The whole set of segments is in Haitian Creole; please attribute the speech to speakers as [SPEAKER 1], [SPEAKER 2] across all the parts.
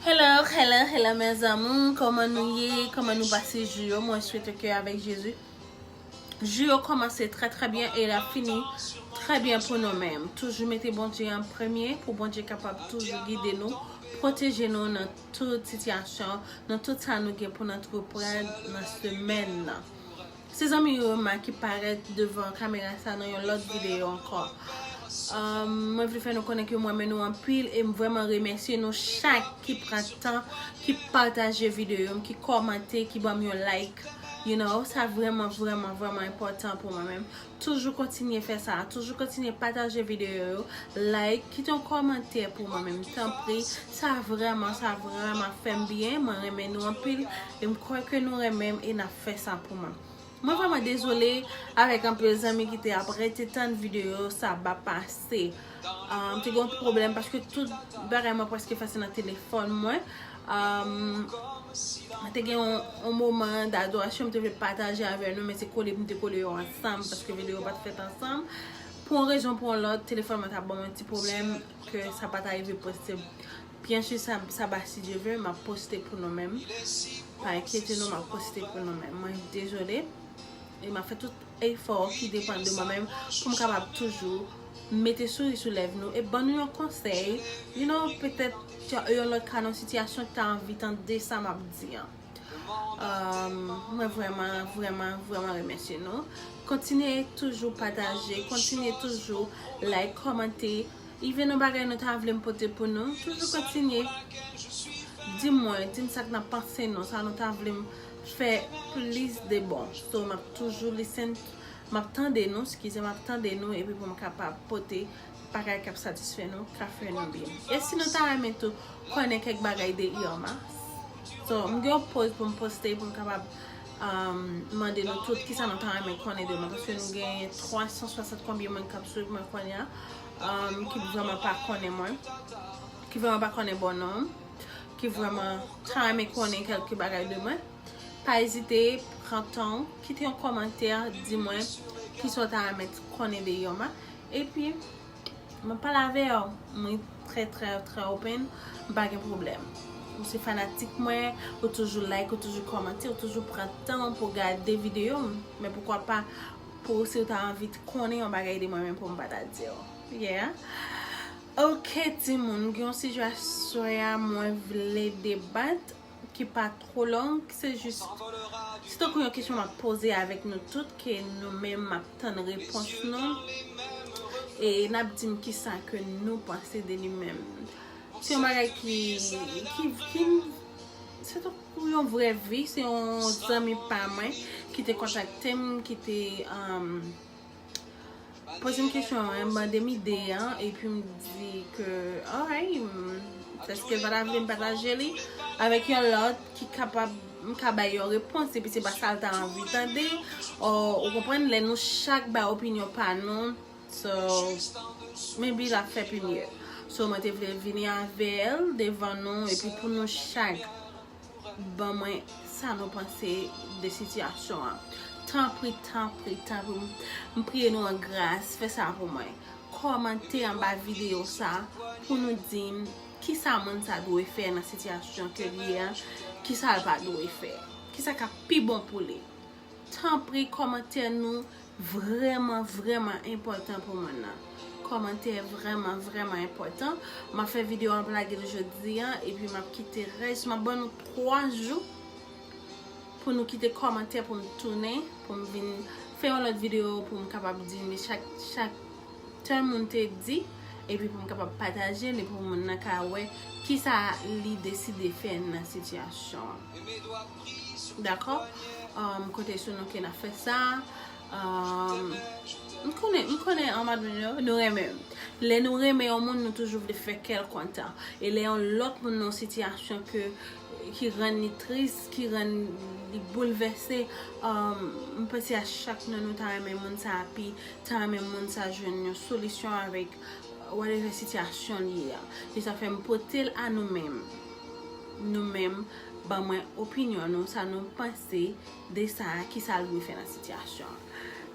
[SPEAKER 1] Hello hello hello mes amours Koman nou ye Koman nou pase jou yo Mwen swete ke avèk Jezi Jou yo komanse trè trè byen E la fini trè byen pou nou men Toujou mete Bondye an premye Pou Bondye kapab toujou gide nou Proteje nou nan tout sitiyasyon Nan tout sa nou gen pou nou antreprann Nan semèn nan Se zanmi Roma ki parèt devan kamera sa nan yon lòt videyo ankò. Mwen vle fè nou konnen ke m renmen nou anpil e m vrèman remèsye nou chak ki pran tan, ki pataje videyo m, ki kòmante, ki banm yon like. You know, sa vrèman vrèman vrèman enpòtan pou mwen menm. Toujou kontinye fè sa, toujou kontinye pataje videyo yo, like, kite yon kòmantè pou mwen menm tanpri, sa vrèman, sa vrèman fèm byen, mwen renmen nou anpil, e m kwè ke nou renmen m e nap fè sa pou mwen. Mwen vrèman dezole avèk anpil zanmi ki te ap rete tann videyo sa ap pase. M te gen yon ti pwoblèm paske tout bagay mwen preske fè se nan telefòn mwen. M te gen yon moman d'adorasyon m te vle pataje avè nou men se kole m te kole yo ansanm paske videyo yo pa t fèt ansanm. Pou yon rezon pou yon lòt, telefòn mwen ta ban mwen ti pwoblèm ke sa pa ta rive poste. Byen si sa ba si Dye ve, m ap poste pou nou menm. Pa enkyete nou, m ap poste pou nou menm. Mwen dezole. efò ki depann de mwen menm pou m kapab toujou mete souri sou lèv nou e ban nou yon konsèy you no petèt yon lòt ka nan yon sitiyasyon ki ta anvi tande sa m ap di an mwen vrèman vrèman vrèman remèsye nou kontinye toujou pataje kontinye toujou like kòmante even yon bagay nou ta vle m pote pou nou toujou kontinye di mwen di m sa k nan panse nou sa nou ta vle m fè plis de bon so map toujou listen map tande nou skize map tande nou epi poum kapab pote bagay kap satisfè nou ka fè nou byen e si nou ta renmen tou konnen kèk bagay de Irma so m gen yon poz poum poste poum kapab mande nou tout kisa nou ta renmen konnen de mwen paske m gen 360 konbyen moun kap swiv mwen kounye a ki vreman pa konnen mwen ki vreman pa konnen bon nonm. ki vreman ta renmen konnen kelke bagay de mwen pa ezite pran tanw kite yon komantè di mwen kisa w ta renmen konnen de yom epi mwen pale avew mwen trè trè trè open m pa gen pwoblèm ou se fanatik mwen ou toujou like ou toujou komante ou toujou pran tanw pou gade video m men poukwa pa pou si w ta anvi konnen yon bagay de mwen men pou m pa ta diw yeah. Ok timoun m gen yon sijasyon ya mwen vle debat ki pa two long ki se jis se tankou yon kesyon map poze avek nou tout ke nou menm map tann repons nou e nap dim kisa ke nou panse de li menm se yon bagay ki ki se tankou yon vre vi se yon zanmi pa mwen ki te kontakte m ki te Poze m kesyon an, m mande m ide an, epi m di ke alright, èske Vanda vle m pataje li avèk yon lòt ki kapab, m ka bay yon repons epi se pa sa l ta anvi tande, ou konprann, lè nou chak bay opinyon pa nou, so, maybe l ap fè pi mye. So, mwen te vle vini avè l devan nou epi pou nou chak. ban mwen sa nou panse de sitiyasyon an tanpri tanpri tanpri m priye nou an gras fè sa pou mwen kòmante anba videyo sa pou nou di m kisa moun sa dwe fè nan sitiyasyon ke l ye a kisa l pa dwe fè kisa k ap pi bon pou li. Tanpri komantè nou vreman vreman enpotan pou mwen nan komantè vreman vreman enpotan map fè video map lagel jodi an epi map kite res map ban nou 3 jou pou nou kite komantè poum tounen poum vin fè yon lot video poum kapab di nou chak chak tèl moun te di epi poum kapab patajel epi pou moun nan ka wè kisa li deside fè nan sitiyasyon an. Dakò M konte sou nou ke nap fè sa M konnen M konnen nou renmen m Lè nou renmen yon moun nou toujou vle fè kè l kontan E lè yon lòt moun nan yon sitiyasyon ke ki rann li tris ki rann li boulvèse M panse a chak nan nou ta renmen moun sa api ta renmen moun sa jwenn yon solisyon avèk whatever sitiyasyon li ye a Se sa fè m pote l a nou menm Nou menm Ban mwen opinyon nou, sa nou panse de sa, ki sa l dwe fè nan sitiyasyon an.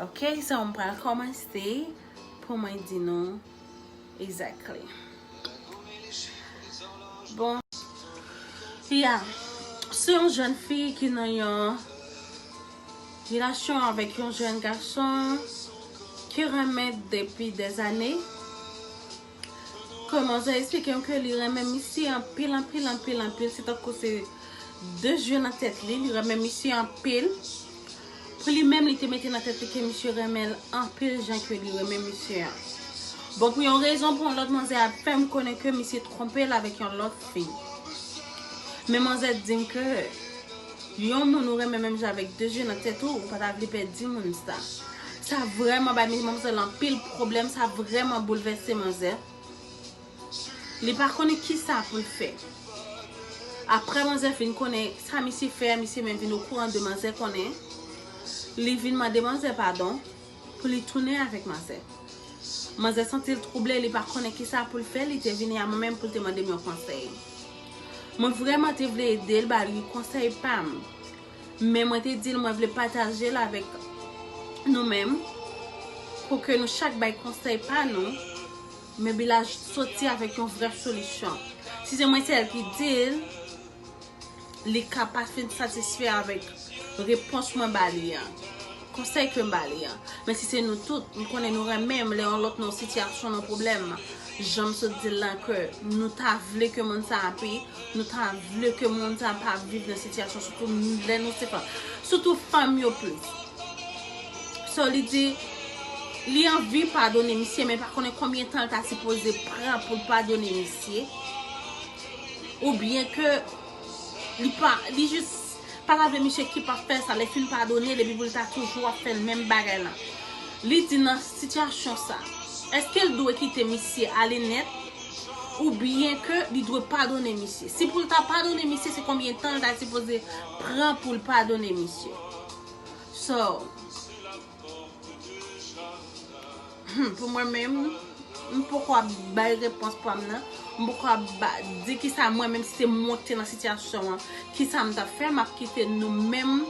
[SPEAKER 1] Ok, so m pral kòmanse pou mwen di nou exactly. Bon, fi a, se yon jèn fi ki nan yon relasyon avèk yon jèn gason ki renmen depi dèzane. Kòman zè esplike m ke li renmen misye anpil anpil anpil anpil se tankou se 2 zye nan tèt li, li renmen misye anpil pou li menm li te mete nan tèt li ke misye renmen l anpil jan ke li renmen misye an bon pou yon rezon pou yon lòt manzè ap fè m konnen ke misye twonpe l avèk yon lòt fi men manzè di m ke Yon moun ou renmen menm jan avèk de je nan tèt ou, ou pa ta vle pèdi moun sa. Sa vrèman bay manmzèl anpil pwoblèm, sa vrèman boulvèse manzè. Li pa konnen ki sa pou l fè. Aprè manzè fin konnen sa misye fè a, misye menm vin okouran de manzè konnen. Li vin mande manzè padon. pou li tounen avèk manzè. Manzè santi l twouble, li pa konnen ki sa pou l fè, li te vini a mwen menm pou l te mande m yon konsèy. Mwen vrèman te vle ede l, ba li konsèy pa m, men mwen te di l mwen vle pataje l avèk nou menm, pou ke nou chak bay konsèy pa nou, men Bilal soti avèk yon vrè solisyon. Si se mwen sèl ki di l. li ka pa fin satisfè avèk repons mwen ba li an, konsèy ke m ba li an. Men si se nou tout, m konnen nou renmen m, lè yon lòt nan yon sitiyasyon, nan yon pwoblèm, jan m sot di l lan, ke nou ta vle ke moun sa ape, nou ta vle ke moun sa pa viv nan sitiyasyon, sitou lè nou se fanm. Sitou fanm yo plis. So li di, li anvi padone misye, men pa konnen konbyen tan l ta sipoze pran pou l padone misye. Ou byen ke li pa, li jis pa ta vle misye kip ap fè sa, lè fin padone depi pou li ta toujou ap fè menm bagay lan. Li di nan sitiyasyon sa, eske l dwe kite misye ale nèt, ou byen ke li dwe padone misye. Si pou l ta padone misye, se konbyen tan l ta sipoze pran pou l padone misye. So. Humm pou mwen menm m poko ap bay repons pam nan m poko ap di kisa mwen menm si se mwen ki te nan sitiyasyon an kisa m tap fè map kite nou menm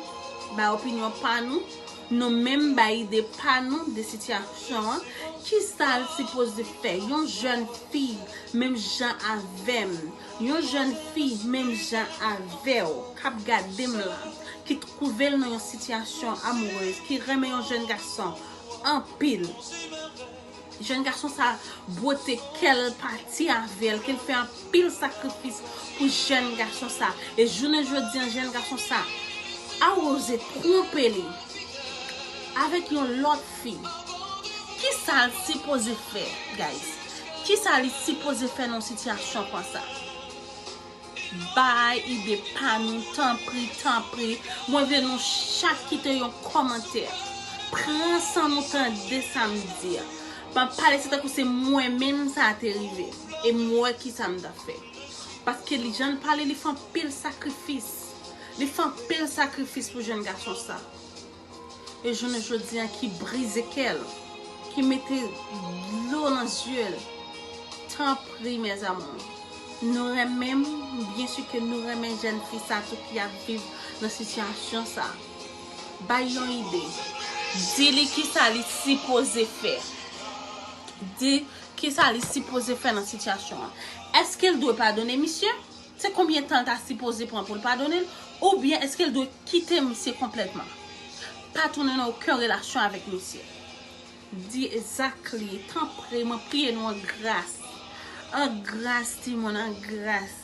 [SPEAKER 1] bay opinyon pa nou nou menm bay ide pa nou de sitiyasyon an kisa l sipoze fè yon jèn fi menm jan avèm. Yon jèn fi menm jan avèw kap gadem la ki trouvel nan yon sitiyasyon amourez ki renmen yon jèn gason anpil jèn gason sa bwote kèl pati avèl kel fè anpil sakrifis pou jèn gason sa e jounen jodi an jèn gason sa a oze tronpe li avèk yon lòt fi. Kisa l sipoze fè guys? Kisa li sipoze fè nan sitiyasyon konsa? Bay ide pa nou tanpri tanpri. Mwen vle nou chak kite yon kòmantè. Pran san nou tande sa m di a. Pa pale se tankou se mwen menm sa a te rive. E m wè kisa m ta fè. Paske li jan l pale li fè anpil sakrifis. Li fè anpil sakrifis pou jenn gason sa. e jounen jodi a ki brize kè l, ki mete dlo nan zye l, tanpri mes amours, nou renmen m, byen si ke nou renmen jèn fi sa tou ki ap viv nan sitiyasyon sa, bay yon ide, di li kisa li sipoze fè, di kisa li sipoze fè nan sitiyasyon an, eske l dwe padone misye? Se konbyen tan l ta sipoze pran pou l padone l? Oubyen eske l dwe kite misye konplètman? Pa tounen nan oken relasyon avèk misye. Di zak li, tanpri, mwen priye nou an gras. An gras timoun, an gras.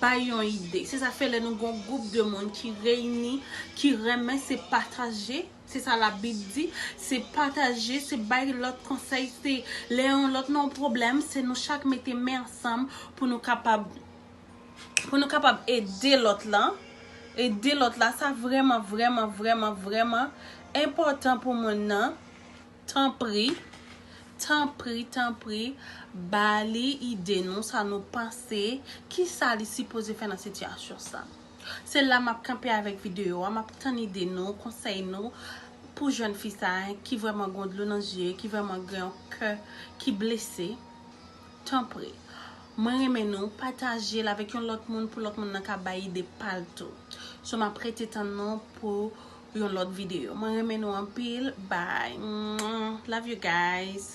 [SPEAKER 1] Bay yon ide. Se sa k fè lè nou gen yon gwoup de moun ki reyini, ki renmen se pataje. Se sa la bib di, se pataje, se bay lòt konsèy, se lè yon lòt nan yon pwoblèm, se nou chak mete men ansanm pou nou kapab pou nou kapab ede lòt lan, ede lòt la sa vrèman vrèman vrèman vrèman enpòtan pou moun nan tanpri tanpri tanpri ba li ide nou sa nou panse ki sa li sipoze fè nan sitiyasyon sa. Se la map kanpe avèk video a map tann ide nou, konsèy nou pou jèn fi sa ki vrèman gon dlo nan zye ki vrèman gen yon kè ki blese tanpri mwen renmen nou patajel avèk yon lòt moun pou lòt moun nan ka bay ide pal tou so map rete tann nou pou yon lòt video mwen renmen nou anpil bby love you guys.